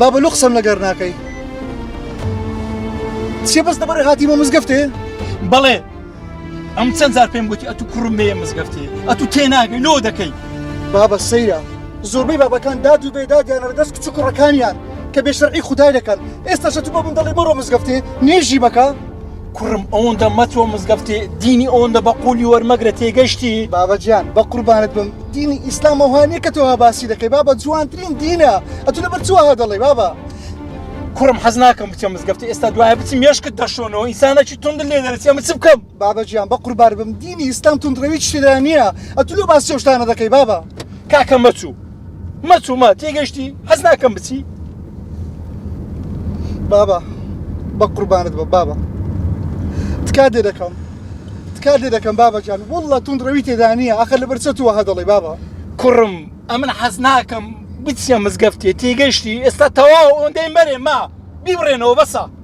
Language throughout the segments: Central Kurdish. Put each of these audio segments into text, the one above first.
بابە لۆ قسەم لەگەر ناکەی چێ بەس دەبڕێ هاتیمە مزگەفتێ بەڵێ ئەم چەند زار پێم گوتی ئەتو کوڕم بێ مزگەفتی ئەتو تێ ناگەی لۆ دەکەی بابە سەیرە زۆربەی بابەکان داد و بێدا دیانەر دەست کچ و کوڕەکانیان کە بێشەرعی خودای دەکەن ئێستاشە تو بە من دەڵێ بڕۆ مزگەفتێ نوێژی بەکە کوڕم ئەوەندە مەتۆ مزگەفتی دینی ئەوەندە بە قولی وەرمەگرە تێگەشتی بابەجیان بە قوربانت بم دینی ئیسلام ئەوهانە کە تۆها باسی دەکەی بابە جوانترین دینە ئەتو لەبەر چوەها دەڵێ بابە کوڕم حەز ناکەم بچم مزگەفتی ئێستا دوایە بچم مێشکت دەشۆنەوە ئینسانەکی تونند لێ دەرەچێ بچ بکەم بابەجیان بە قوربار بم دینی ئیسلام تونندڕەوی شتێدا نییە ئەتو لە باسی شتانە دەکەی بابە کاکە مەچوو مەچوومە تێگەشتی حەز ناکەم بچی بابا بە قوربانت بە بابا تکا دێ دەکەم تکا دێ دەکەم بابا جان وڵە تون ڕەوی تێدانە ئەخە لە بەرچە تووە هە دەڵێ بابا کوڕم ئەمن حەز ناکەم بچیە مزگەفتێ تێگەشتی ئێستا تەواو ئەوەندەی مەرێ ما بیبڕێنەوە بەسە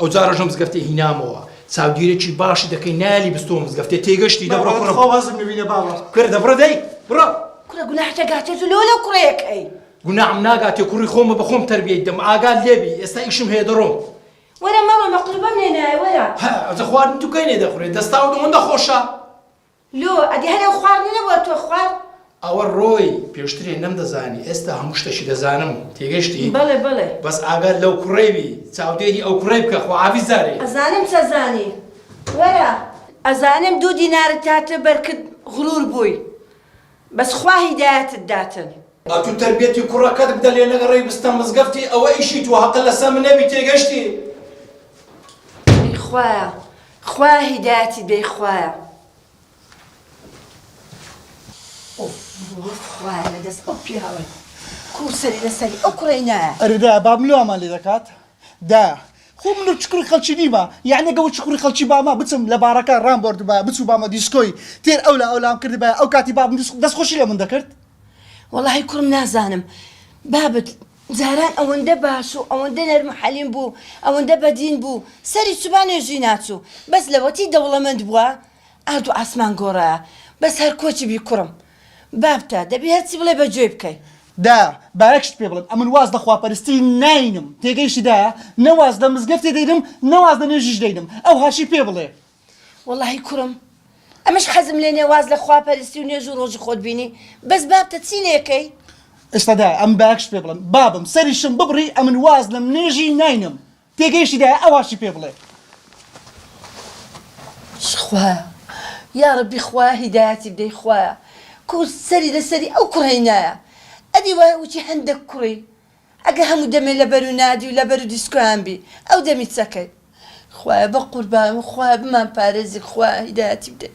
ئەو جارەش ئەم مزگەفتەی هینامەوە چاودیرێکی باشی دەکەی نالی بستۆ مزگەفتێ تێگەشتی دە بڕۆ کوڕم خۆ وازم نبینە بابە کورە دەبڕە دەی بڕۆ کورە گوناح دەگاتێ تو لۆ لەو کوڕەیەکەی گوناحم ناگاتێ کوڕی خۆمە بە خۆم تەربیەی دەم ئاگات لێبی ئێستا ئیشم هەیە دەڕۆم وەرە مەڕۆ مەقلوبەم لێ نایە وەرە هە ئەزە خواردن دوکەی لێ دەخورێ دەستاو ئەوەندە خۆشە لۆ ئەدی هەر ئەو خوار نیە نەبوە تۆ خوار. ئەوە ڕۆی پێشترێ نەمدەزانی ئێستا هەموو شتەکی دەزانم تێگەشتی بەڵێ بەڵێ. بەس ئاگات لەو کوڕەی بی چاودێری ئەو کوڕەی بکە خوعافیز جارێ. ئەزانم چەزانی وەرە. ئەزانم دوو دینارت هاتە بەر کرد غرور بووی. بەس خوا هیدایەتت داتن. ئەتو تەربیەتی کوڕەکەت بدە لێ نەگەڕێی بستە مزگەفتی ئەوە ئیشی تۆ هەقە لەسە من نەبی تێگەشتی. ئەی خوایە خوایە هیدایەتی بەی خوایە. ئۆف خوایە لەدەست ئەو پیاوەی کوو سەری لەسەری ئەو کوڕەی نایە. ئەرێ دایە باب ملوامان لێ دەکات. دا خو من وچکوری خەلکی نیمە یانی ئەگە وچکوری خەلکی بامە بچم لە باڕەکە رام بۆردبایە بچو بامە دیسکۆی تێر ئەولا ئەولام کردبایە ئەو کاتی بابم دەس خۆشی لە من دەکرد. وەڵاهی کوڕم نازانم بابت جاران ئەوەندە باش و ئەوەندە نەرم و حەلیم بوو ئەوەندە بەدین بوو سەری سوبا نوێژی ناچوو بەس لەوەتی دەوڵەمەند بووە ئارد و ئاسمان گۆڕایە بەس هەر کۆچی بی کوڕم بابتە دەبی هەرچی بڵێ بە گوێی بکەی. دە با یەک شت پێ بڵێم ئەمن واز لە خواپەرستی ناینم تێگەیشتی دە نە واز لە مزگەفتی دەینم نە واز لە نوێژیش دەینم ئەو هەرچی پێ بڵێ. وەڵاهی کوڕم ئەمنش حەزم لێ نیە واز لە خواپەرستی و نوێژ و ڕۆژی خۆت بینی بەس بابتە چی لێ کەی. ئێستا دایە ئەمن با یەک شت پێ بڵێم بابم سەریشم ببڕی ئەمن واز لە منێژی ناینم. تێگەیشتی دایە ئەواشی پێ بڵێ. خوایە یاڕەبی خوایە هیدایەتی بدەی خوایە کور سەری لە سەری ئەو کوڕەی نایە ئەدی وایە وتی هەندەک کوڕی ئەگە هەموو دەمێ لە بەرو نادی و لە بەرو دیسکۆیان بی ئەو دەمی چەکەی خوایە بەقوربانم خوایە بمان پارێزی خوایە هیدایەتی بدەی.